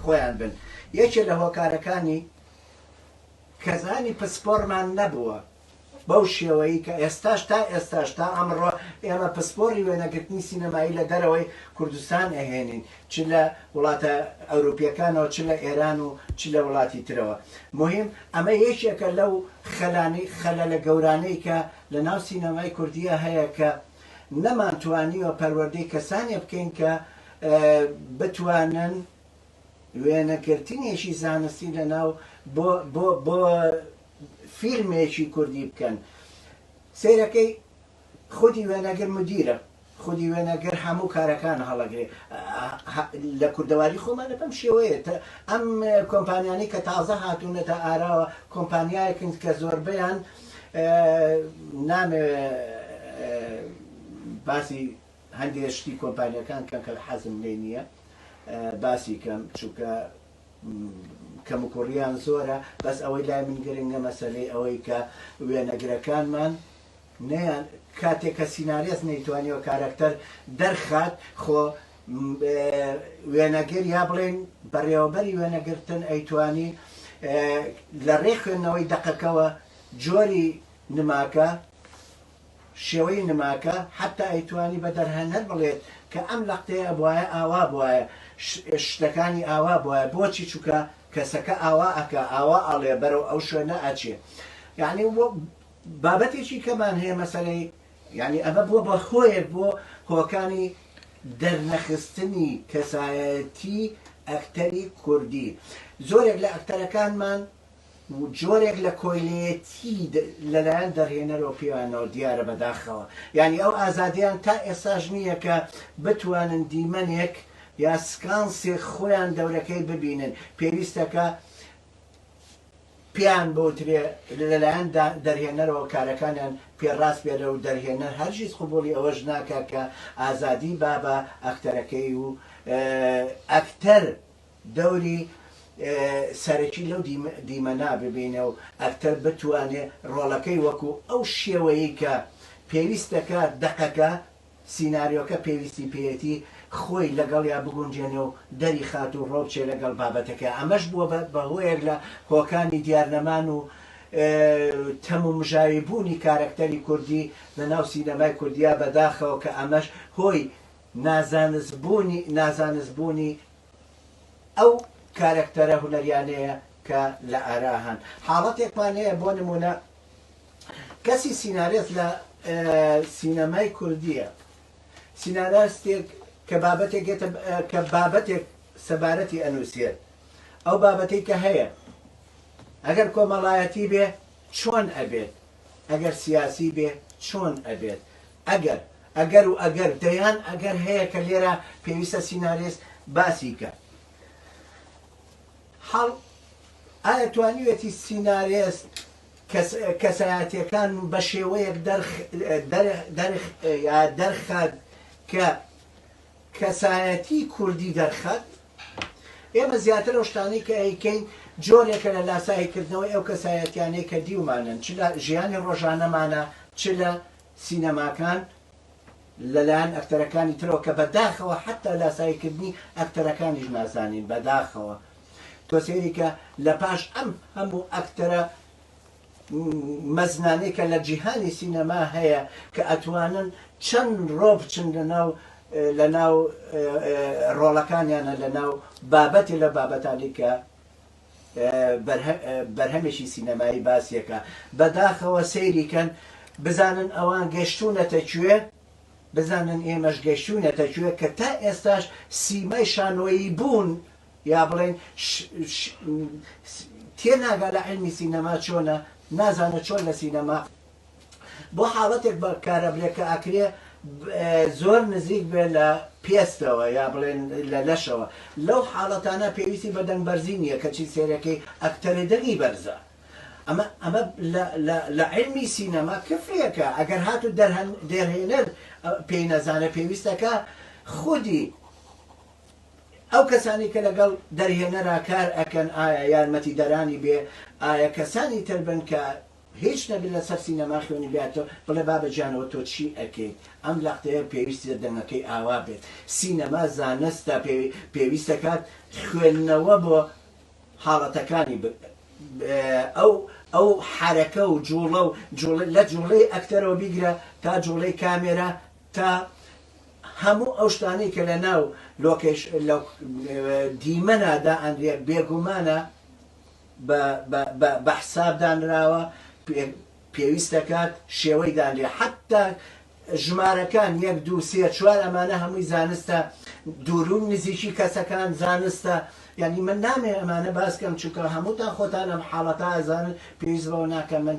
خۆیان بن یەکێ لە هۆکارەکانی کەزانی پسپۆرمان نەبووە بەو شێوەی کە ئێستاش تا ئێستاش تا ئەمڕۆ ئێمە پسپۆڕی وێنەگرتنی سینەمایی لە دەرەوەی کوردستان ئەهێنین چ لە وڵاتە ئەوروپیەکانەوە چ لە ئێران و چ لە وڵاتی ترەوە موهیم ئەمە یەکێکە لەو خەلانی خەلەلە گەورانەی کە لە ناو سینەمای کوردیە هەیە کە نەمانتوانیوە پەروەردەی کەسانێ بکەین کە بتوانن وێنەگرتنێکی زانستی لە ناو بۆ بۆ بۆ فیلمێکی کوردی بکەن سەیرەکەی خودی وێنەگر مدیرە خودی وێنەگر هەموو کارەکان هەڵەگرێ لە کوردەواری خۆمانە بەم شێوەیە ئەم کۆمپانیانی کە تازە هاتوونەتە ئاراوە کۆمپانیایەکن کە زۆربیان نامێ باسی هەندێک شتی کۆمپانیەکان کە کە حەزم لێ نییە باسی کەم چووکە کەموکوڕیان زۆرە بەس ئەوەی لای من گرنگە مەسەلەی ئەوەی کە وێنەگرەکانمان نەیان کاتێک کە سینارێس نەیتوانیەوە کارەکتەر دەرخات خۆ وێنەگر یا بڵێن بەڕێوەبەری وێنەگرتن ئەیتوانی لە ڕێ خوێندنەوەی دەقەکەوە جۆری نماکە شێوەی نماکە حەتتا ئەیتوانی بە دەرهەنەر بڵێت کە ئەم لەقتەی ئەبوایە ئاوا بوایە شتەکانی ئاوا بوایە بۆچی چونکە کەسەکە ئاوا ئەکا ئاوا ئەڵێ بەرەو ئەو شوێنە ئەچێ یانی بابەتێکی کەمان هەیە مەسەلەی یانی ئەمە بووە بە هۆیەک بۆ هۆکانی دەرنەخستنی کەسایەتی ئەکتەری کوردی زۆرێک لە ئەکتەرەکانمان و جۆرێک لە کۆیلەیەتی لەلایەن دەرهێنەرەوە پێیانەوە دیارە بەداخەوە یانی ئەو ئازادیەیان تا ئێستاش نییە کە بتوانن دیمەنێک یا سکانسێک خۆیان دەورەکەی ببینن پێویستە کە پێیان بوترێ لەلایەن دەرهێنەرەوە کارەکانیان پێڕاست بێرە و دەرهێنەر هەرگیز قبوڵی ئەوەش ناکا کە ئازادی بابە ئەکتەرەکەی و ئەکتەر دەوری سەرەکی لەو دیمەنا ببینێ و ئەکتەر بتوانێ ڕۆڵەکەی وەکوو ئەو شێوەیەی کە پێویست دەکات دەقەکە، سیناریۆکە پێویستی پێیەتی خۆی لەگەڵیا بگونجێنێ و دەریخات و ڕۆبچێ لەگەڵ بابەتەکەیا. ئەمەش بووە بە هۆیەک لە هۆکانی دیارنەمان و تەمومژاوی بوونی کارەکتەری کوردی لە ناو سینەمای کوردیا بەداخەوە کە ئەمەش هۆی نازانست بوونی ئەو کارەکتەرە هونەریانەیە کە لە ئارا هەن حاڵەتێکمان هەیە بۆ نموونە کەسی سینارێست لە سینەمای کوردیە سیناراستێک کە بابەتێک کە بابەتێک سەبارەتی ئەنووسێت ئەو بابەتەی کە هەیە ئەگەر کۆمەڵایەتی بێ چۆن ئەبێت ئەگەر سیاسی بێ چۆن ئەبێت ئەگەر ئەگەر و ئەگەر دەیان ئەگەر هەیە کە لێرە پێویستە سینارێس باسی کە حاڵ ئایا توانیوێتی سینارێس کەسایەتەکان بە شێوەیەک دەرخ دەرخ یا دەرخات کە کەسایەتیی کوردی دەرخەت، ئێمە زیاتر ئەو شتانەی کە ئەیکەین جۆرێکە لە لاساییکردنەوەی ئەو کەسایەتییانەی کە دیومانن، چ لە ژیانی ڕۆژانەمانا، چ لە سینەماکان لەلایەن ئەکتەرەکانی ترەوە، کە بە داخەوە حەتتا لاساییکردنی ئەکتەرەکانیش نازانین، بە داخەوە تۆ سەیری کە لە پاش ئەم هەموو ئەکتەرە، مەزنانەی کە لە جیهانی سینەما هەیە کە ئەتوانن چەند ڕۆ بچن لەناو لەناو ڕۆڵەکانیانە لەناو بابەتێ لە بابەتانی کە بەرهەمێکی سینەمایی باسیەکە بەداخەوە سەیریکەن بزانن ئەوان گەشتونەتە کوێ بزانن ئێمەش گەشتونەتە کوێ کە تا ئێستاش سیمای شانۆیی بوون یا بڵێین ش ش س تێناگا لە عیلمی سینەما چۆنە نازانێ چۆن لە سینەما بۆ حاڵەتێک بە کارەبرێ کە ئەکرێ ب زۆر نزیک بێ لە پێستەوە یا بڵێن لە لەشەوە لەو حاڵەتانە پێویستی بە دەنگ بەرزی نییە کەچی سێرەکەی ئەکتەرێ دەنگی بەرزە ئەمە ئەمە لە لە لە عیلمی سینەما کفرێکە ئەگەر هات و دەرهەن دەرهێنەر پێی نەزانێ پێویستەکە خودی ئەو کەسانەی کە لەگەڵ دەرهێنەرا کار ئەکەن ئایا یارمەتی دەرانی بێ ئایا کەسانی تر بن کە هیچ نەبێ لەسەر سینەما خوێنی بیاتەوە بڵێ بابە جانەوە تۆ چی ئەکەیت ئەم لەقتەیە پێویستە دەنگەکەی ئاوا بێت سینەما زانستە پێویستەکات خوێندنەوە بۆ حاڵەتەکانی ئەو ئەو حەرەکە و جوڵە و لە جوڵەی ئەکتەرەوە بیگرە تا جوڵەی کامێرا تا هەموو ئەو شتانەی کە لە ناو لۆکەیش لە دیمەنا دائەنرێ بێگومانە بە بە بە بە حساب دانراوە پێویست دەکات شێوەی دانرێ حەتتا ژمارەکان یەک دوو سێ چوار ئەمانە هەمووی زانستە دوورون نزیکی کەسەکان زانستە یعنی من نامێ ئەمانە باس کەم چونکە هەمووتان خۆتان ئەم حاڵەتە ئەزانن پێویست بەوە ناکەم من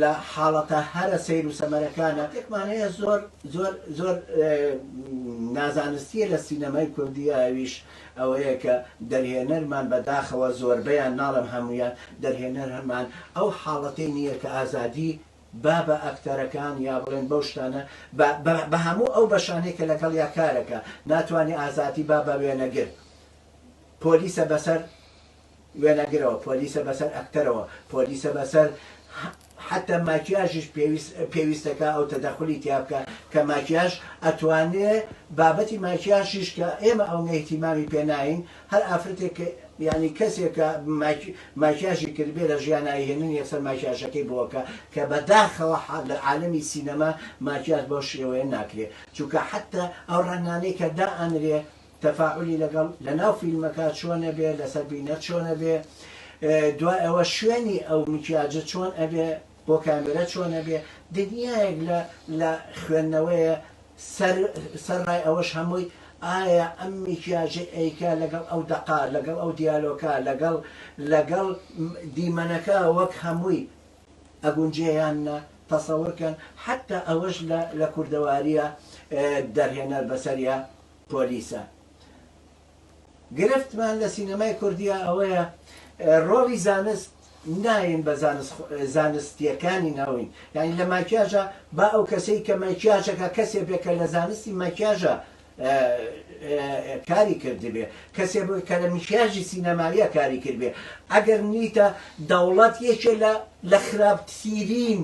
لە حاڵەتە هەرە سەیر و سەمەرەکانا تێکمان هەیە زۆر زۆر زۆر نازانستیە لە سینەمای کوردی ئەویش ئەوەیە کە دەرهێنەرمان بە داخەوە زۆربەیان ناڵێم هەموویان دەرهێنەرمان ئەو حاڵەتەی نیە کە ئازادی با بە ئەکتەرەکان یا بڵێن بەو شتانە با بە هەموو ئەو بەشانەی کە لەگەڵیا کارەکا ناتوانێ ئازادی با بە وێنەگر پۆلیسە بەسەر وێنەگرەوە پۆلیسە بەسەر ئەکتەرەوە پۆلیسە بەسەر حەتە ماکیاژیش پێویست پێویستە کە ئەو تەدەخولی تیا بکە کە ماکیاژ ئەتوانێ بابەتی ماکیاژیش کە ئێمە ئەونە ئیهتیمامی پێ ناین هەر ئافرەتێک کە یانی کەسێک کە ماکی ماکیاژی کردبێ لە ژیانایی هێنن یەکسەر ماکیاژەکەی بۆ کە کە بە داخەوە حا لە عالەمی سینەما ماکیاژ بەو شێوەیە ناکرێ چونکە حەتە ئەو ڕەنگانەی کە دائەنرێ تەفاعولی لەگەڵ لەناو فیلمەکە چۆنە بێ لەسەر بینەر چۆنە بێ دوای ئەوە شوێنی ئەو میکیاجە چۆن ئەبێ بۆ کامێرە چۆنە بێ دنیایەک لە لە خوێندنەوەیە سەر سەر ڕای ئەوەش هەمووی ئایا ئەم میکیاجە ئەیکا لەگەڵ ئەو دەقا لەگەڵ ئەو دیالۆکە لەگەڵ لەگەڵ دیمەنەکە وەک هەمووی ئەگونجێیان نە تەسەورکەن حتا ئەوەش لە لە کوردەواریە دەرهێنەر بەسەریا پۆلیسە. گرفتمان لە سینەمای کوردیا ئەوەیە ڕۆڵی زانست نایەین بە زانست زانستیەکانی ناوین یانی لە ماکیاژە با ئەو کەسەی کە ماکیاژەکە کەسێ بێ کە لە زانستی ماکیاژە کاری کردبێ کەسێ بۆی کە لە میکیاژی سینەماویە کاری کردبێ ئەگەر نیتە دەوڵەت یەکێ لە لە خراپترین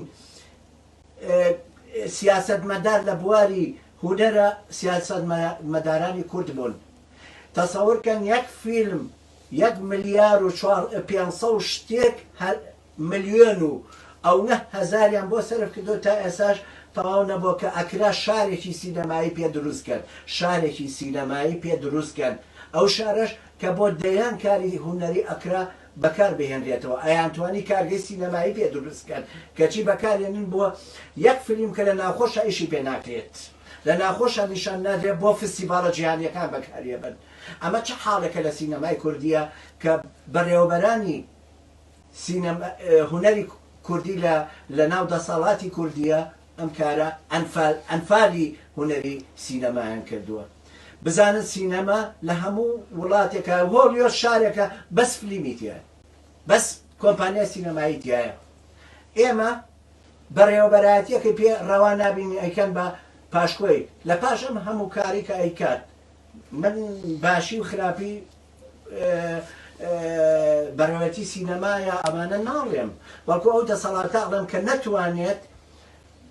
سیاسەتمەدار لە بواری هونەرا سیاسەتمەدارانی کورد بوون تەسەور کەن یەک فیلم یەک ملیار و چوار پێنج سەد و شتێک ملیۆن و ئەونە هەزاریان بۆ سەرف کردوە تا ئێساش تەواو نەبوە کە ئەکرا شارێکی سینەمایی پێ دروست کەن شارێکی سینەمایی پێ دروست کەن ئەو شارەش کە بۆ دەیان کاری هونەری ئەکرا بەکار بهێنرێتەوە ئەیانتوانی کارگەی سینەمایی پێ دروست بکەن کەچی بەکارێنن بۆ یەک فلیم کە لە ناوخۆشا ئیشی پێ ناکرێت لە ناوخۆشا نیشان نادرێت بۆ فستیڤاڵە جیهانیەکان بەکاریەبەن ئەمە چ حاڵێکە لە سینەمای کوردیە کە بەڕێوەبەرانی سینەما هونەری کوردی لە لە ناو دەسەڵاتی کوردیە ئەم کارە ئەنفال ئەنفالی هونەری سینەمایان کردووە بزانن سینەما لە هەموو وڵاتێکا هۆڵیۆد شارێکە بەس فلیمی تیایە بەس کۆمپانیای سینەمایی تیایە ئێمە بەڕێوەبەرایەتیەکەی پێ ڕەوا نابینی ئەیکەن بە پاشکۆی لە پاش ئەم هەموو کاری کە ئەیکات من باشی و خراپی بەڕێوەتی سینەمایە ئەمانە ناڵێم، بەڵکو ئەو دەسەڵاتە ئەڵێم کە نەتوانێت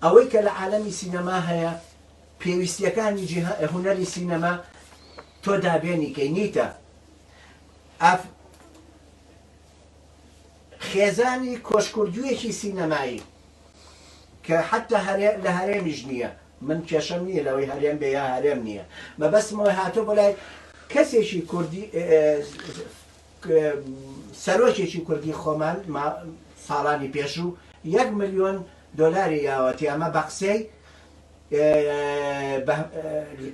ئەوەی کە لە عالەمی سینەما هەیە پێویستیەکانی جیها هونەری سینەما تۆ دابێنی کەی نیتە ئاف. خێزانی کۆشکوردوویەکی سینەمایی کە حەتتا هەرێ لە هەرێمیش نییە من کێشەم نییە لەوەی هەرێم بێ یا هەرێم نییە مەبەستم ئەوەی هاتووە بۆ لای کەسێکی کوردی سەرۆکێکی کوردی خۆمان ساڵانی پێشوو یەک ملیۆن دۆلاری یاوەتی ئەمە بە قسەی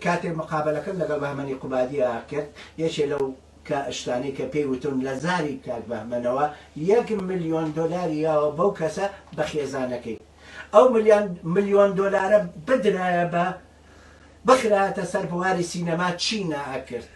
کاتێک مقابلەکەم لەگەڵ بەهمەنی قوبادیە کرد یەکێ لەو کە شتانەی کە پێی وتم لە زاری کاک بەهمەنەوە یەک ملیۆن دۆلاری یاوە بەو کەسە بە خێزانەکەی ئەو ملیان ملیۆن دۆلارە بدرایە بە بخرایەتە سەر بواری سینەما چی نەئەکرد.